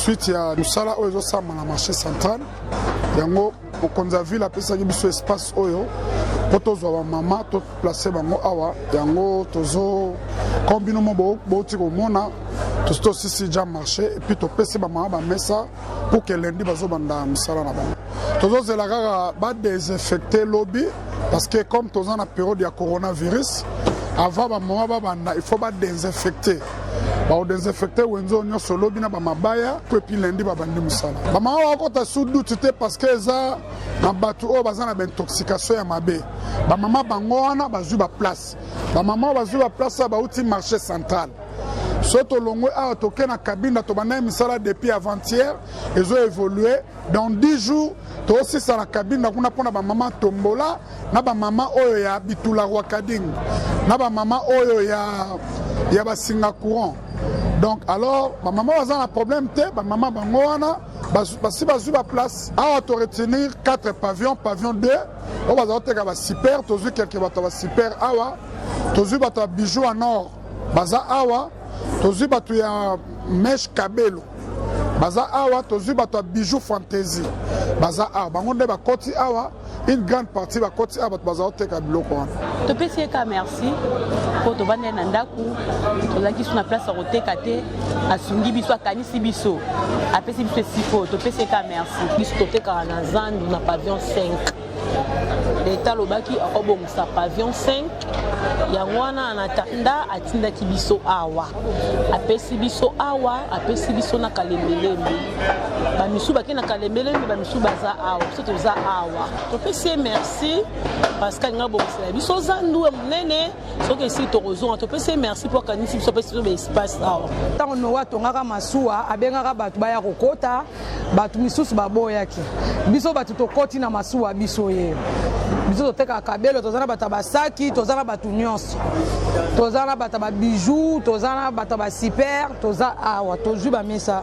suite ya misala oyo ezosamba na marché central yango mokonzi ya ville apesaki biso espace oyo mpo tozwa bamama toplace bango awa yango tozo comme bino mo bouti komona tosi tosisi ja marché epuis topesi bamama bamesa mpo ke lendi bazobanda misala na bango tozozela kaka badesinfecte lobi parce que comme toza na periode ya coronavirus avant bamama babanda il faut badesinfecte bao desinfecte wenze oyo nyonso lobi na bamabaya mpo epi lendi babandi mosala bamama bakota su duti te parceke eza na bato oyo baza na baintoxication ya mabe bamama bango wana bazwi baplace bamama oyo bazwi baplace oyo bauti marché central so tolongwe awa toke na kabinda tobandaki misala depuis avant-hier ezo évolue Dans 10 jours, tosisa na Kabinda kuna mpo na bamama Tombola na bamama oyo ya Bitula Rwakading na bamama oyo ya, ya basinga courant donc alors bamama baza na problème te bamama bango wana basi bazwi baplace awa toretenir 4 pavillon pavillon 2 oyo bazala koteka basiper tozwi kelke bato ya basiper awa tozwi bato ya bijou ya nord baza awa tozwi bato ya meshe kabelo baza awa tozwi bato ya bijou fantaisie baza awa bango nde bakoti awa une grande partie bakoti awa bato bazala koteka biloko wana topesi ye ka merci mpo tobandi ye na ndako tozalaki biso na place ya koteka te asungi biso akanisi biso apesi biso esiko topesi ye ka merci biso totekaka na zandu na pavillon 5 leta alobaki akobongisa pavion 5 yango wana na tanda atindaki biso awa apesi biso awa apesi biso na kalembelembe bamisu bake na kalembelembe bamisu baza awa biso toza awa topesi ye merci parce que alingi abongisela biso zandu ya monene soki esili tokozonga topesi ye merci mpo akanisi biso apesi biso baespace awa ntango noa atongaka masuwa abengaka bato baya kokota bato misusu baboyaki biso bato tokoti na masuwa biso ye biso totekaka kabelo toza na bato ya basaki toza na bato nyonso toza na bato ya babijou toza na bato ya basiper toza awa tozwi bamesa